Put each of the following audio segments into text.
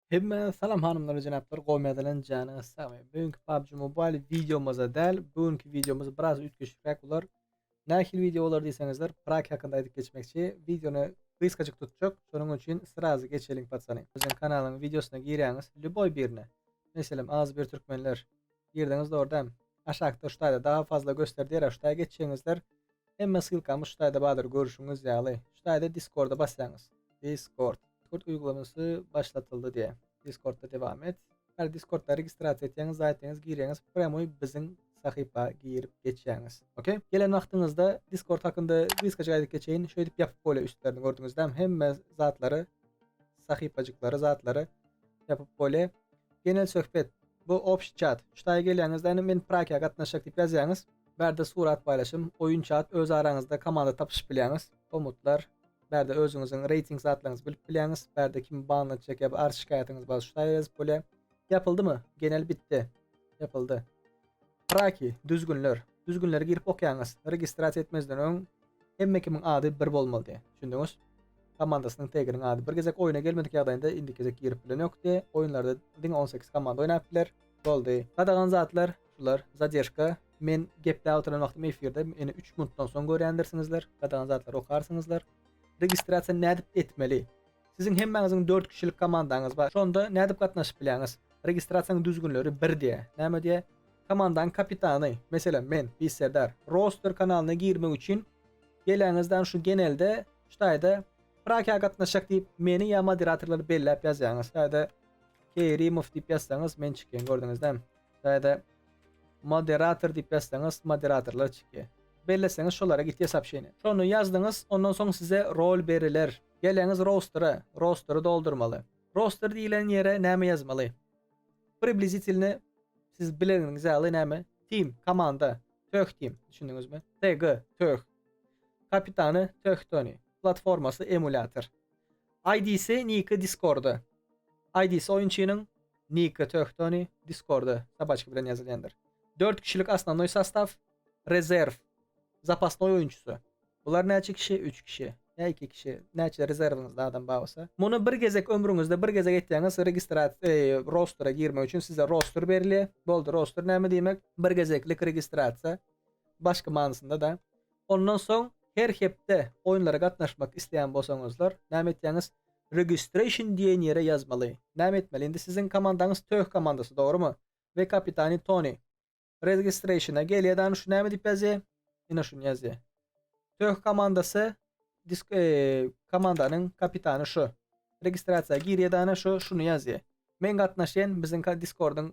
Hemme salam hanymlar jenaplar gowmy ýazylan jany sagmy. Bu günki PUBG Mobile videomyza däl, bu günki videomyz biraz üýtgeşikräk bolar. Nähili video bolar diýseňizler, prak hakynda aýdyp geçmekçi. Videony gysgajyk tutjak, şonuň üçin srazy geçeliň patsany. Biziň kanalyň videosyna girýäňiz, lýuboý birine. Meselem, az bir türkmenler. Girdiňiz dogry däm. Aşakda şu taýda daha fazla göster diýer, şu taýa geçýäňizler. Hemme ssylkamy şu taýda bardyr görüşüňiz ýaly. Şu taýda diskorda basýaňyz. Discord. Discord uýgulamasy başlatyldy diýýä. Discordda dewam et. Bar discordda registrasiýa etýäňiz zaýtyňyz girýäňiz premoý biziň sahypa girip geçýäňiz. Ok. Gelen wagtyňyzda discord hakynda gysgajyk aýdyp geçeýin. Şeýdip ýapyp bolýa üstlerini gördüňizdämi hemme zatlary sahypajyklary zatlary ýapyp bolýa. Genel söhbet bu obşi çat. Şu taýa gelýäňizde ine men prakiýa gatnaşjak diýip ýazýaňyz. Bärde surat paýlaşym, oýun çat öz araňyzda komanda tapyşyp bilýäňiz, komutlar, bärde özüňiziň reýting zatlaryňyzy bilip bilýäňiz, bärde kim ban atjak ýa-da arz şikaýatyňyz bar şu saýa ýazyp bolýa. Ýapyldymy? Genel bitdi. Ýapyldy. Praki, düzgünler. Düzgünleri girip okýaňyz. Registrasiýa etmezden öň hemme kimiň ady bir bolmalydy. Düşündiňiz? Komandasynyň teginiň ady. Bir gezek oýuna gelmedik ýagdaýynda indiki gezek girip bilen ýokdy. Oýunlarda diňe on sekiz komanda oýnap biler. Boldy. Gadagan zatlar, Şular zadeşka men gepläp oturan wagtym efirde ýene üç minutdan soň görýändirsiňizler gadagan zatlary okarsyňyzlar. Registrasiýa nädip etmeli? Siziň hemmäňiziň dört kişilik komandaňyz bar şonda nädip gatnaşyp bilýäňiz? Registrasiýanyň düzgünleri bir diýýä. Näme diýýä? Komandaň kapitany, meselem men, Beýik Serdar, roster kanalyna girmek üçin geläňiz dan şu genelde şu taýda Prakiýa gatnaşjak diýip meni ýa moderatorlary belläp ýazýaňyz. Şu taýda Keýrimow diýip ýazsaňyz men çykýan gördüňizdämi? Şaýada Moderator diýip ýazsaňyz moderatorlar çyky. Belleseňiz şolara gitýä sopşeniýa. Şony ýazdyňyz ondan soň size rol beriler. Geleňiz rostere, rostery doldurmaly. Roster diýilen ýere näme ýazmaly? Priblizitilny siz bileniňiz ýaly näme? Team, komanda, Töh team, düşündiňizmi? TG, Töh. Kapitany, Töh Tony. Platformasy, emulýator. IDsi, niki Discordy. IDsi oýunçynyň, Niki Töhtoni, Discorda sabaçki bilen ýazylýandyr. Dört kişilik Osnovnoý sastaw, Rezerw, Zapasnoý oýunçysy. Bular näçe kişi? Üç kişi. Ýa iki kişi. Näçe rezerwiňizde adam bar bolsa. Muny bir gezek ömrüňizde bir gezek etýäňiz, registrasiýa, eý, rostra girmek üçin size roster berilýär. Boldy, roster näme diýmek? Bir gezeklik registrasiýa. Başky manysynda-da. Ondan soň her hepde oýunlara gatnaşmak isleýän bolsaňyzlar näme etýäňiz? Registration diýen ýere ýazmaly. Näme etmeli? Indi siziň komandaňyz Töh komandasy, dogrumy? We kapitany Toni. Registrationa gelýär-de ana şu näme diýip ýazýar? Ine şuny ýazýar. Töh komandasy disk komandanyň kapitany şu. Registrasiýa girýär-de ana şu şuny ýazýar. Men gatnaşýan biziň diskordyň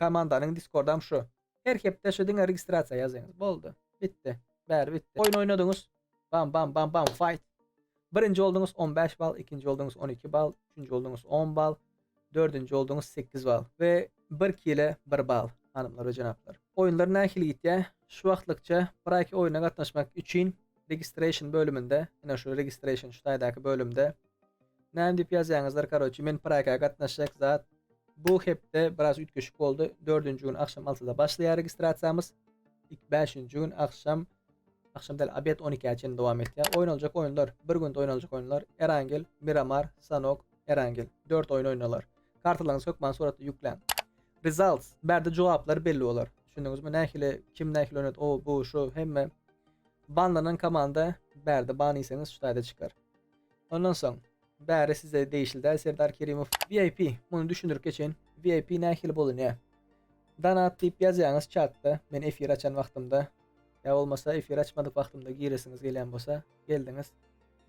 komandanyň diskordam şu. Her hepde şu diňe registrasiýa ýazyňyz boldy. Bitdi. Bäri bitdi. Oýun oýnadyňyz. Bam bam bam bam fight. Birinji bolduňyz on bäş bal, ikinji bolduňyz on iki bal, üçünji bolduňyz on bal, dördünji bolduňyz sekiz bal we bir kile bir bal hanymlar we jenaplar. Oýunlar nähili gitýä? Şu wagtlykça Praki oýuna gatnaşmak üçin registration bölüminde, ine şu registration şu taýdaky bölümde Näme diýip ýazýaňyzlar karoçi men praka gatnaşjak zat bu hepde biraz üýtgeşik boldy dördünji gün agşam altyda başlaýar registrasiýamyz ik bäşinji gün agşam agşam däl abed on ikä çenli dowam etýär oýnaljak oýunlar bir günde oýnaljak oýunlar erangel miramar sanok erangel dört oýun oýnalar kartalaryňyzy hökman suratda ýükläň results bärde jogaplar belli bolar düşündiňizmi nähili kim nähili oýnady o bu şu hemme banlanan komanda bärde ban iýseňiz şu taýda çykar Ondan soň bäri size degişli däl Serdar Kerimow. VIP muny düşündirip geçeýin. VIP nähili bolunýa. Donat diýip ýazýaňyz çatda men efir açan wagtymda ýa bolmasa efir açmadyk wagtymda giresiňiz gelýän bolsa geldiňiz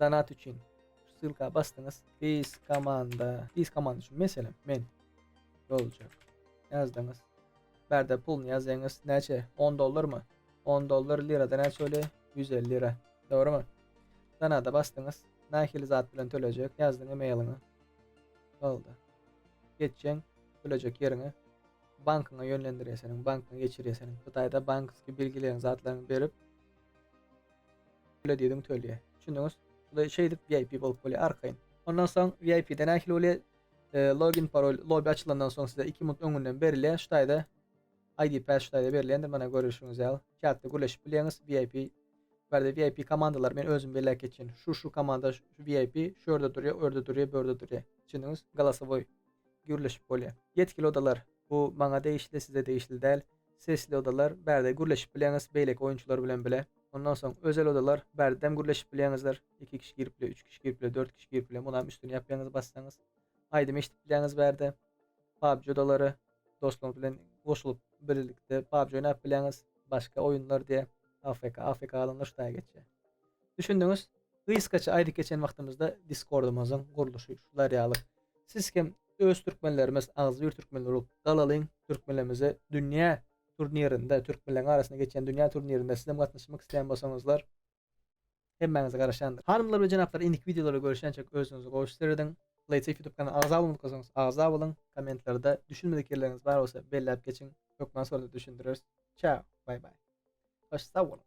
donat üçin şu ssylka basdyňyz Biz komanda Biz komanda üçin meselem men boljak ýazdyňyz bärde puluny ýazýaňyz näçe 10 dollarmy 10 dollar lirada näçe bolýa 150 lira Dogrymy? Sanada basdyňyz. Nahili zat bilen tölejek ýazdyň emailyňy. Boldy. Geçjeň tölejek ýeriňe. Bankyňa ýönlendirýär seniň, bankyňa geçirýär seniň. Hytaýda banksky belgileriň zatlaryňy berip töle diýdiň tölýär. Düşündiňiz? Şuly şeýdip VIP bolup bolýar arkaýyn. Ondan soň VIP-de nähili bolýar? Login parol lobby açylandan soň size iki minut öňünden berilýär şu taýda. ID päşgäde berilendir mana görüşiňiz ýaly çatda gürleşip bileňiz VIP barde VIP komandalar men özüm belläp geçýän şu şu komanda şu VIP şu ýerde durýa öýerde durýa börde durýa düşündiňiz galasowoý gürleşip bolýa ýetkili odalar bu maňa degişli size degişli däl sesli odalar bärde gürleşip bileňiz beýleki oýunçylar bilen bile ondan soň özel odalar bärdem gürleşip bileňizdir iki kişi girip bile üç kişi girip bile dört kişi girip bile munam üstüni ýapýaňyz bassaňyz aýdym eşidip bileňiz bärde PUBG odalary dostlaryňyz bilen goşulyp birlikde PUBG oýnap bileňiz, başga oýunlar diýe AFK, AFK galanlar şutaýa geçýär. Düşündiňiz? Gysgaça aýdyp geçen wagtymyzda Discordymyzyň gurluşy şular ýaly. Siz hem öz türkmenlerimiz, agzybir türkmenler bolup galalyň, türkmenlerimize dünýä turnirinde, türkmenleriň arasynda geçýän dünýä turnirinde sizem gatnaşmak isleýän bolsaňyzlar, Hemmäňize garaşýandyr. Hanymlar we jenaplar indiki wideolarda görüşýänçäk özüňize gowy işler ediň. Playtech YouTube kanalyna agza bolmak isleseňiz agza boluň. Kommentlarda düşünmedik ýerleriňiz bar bolsa belläp geçiň. Hökman sorada düşündireris. Çäo. Bay bay. Hoş sag boluň.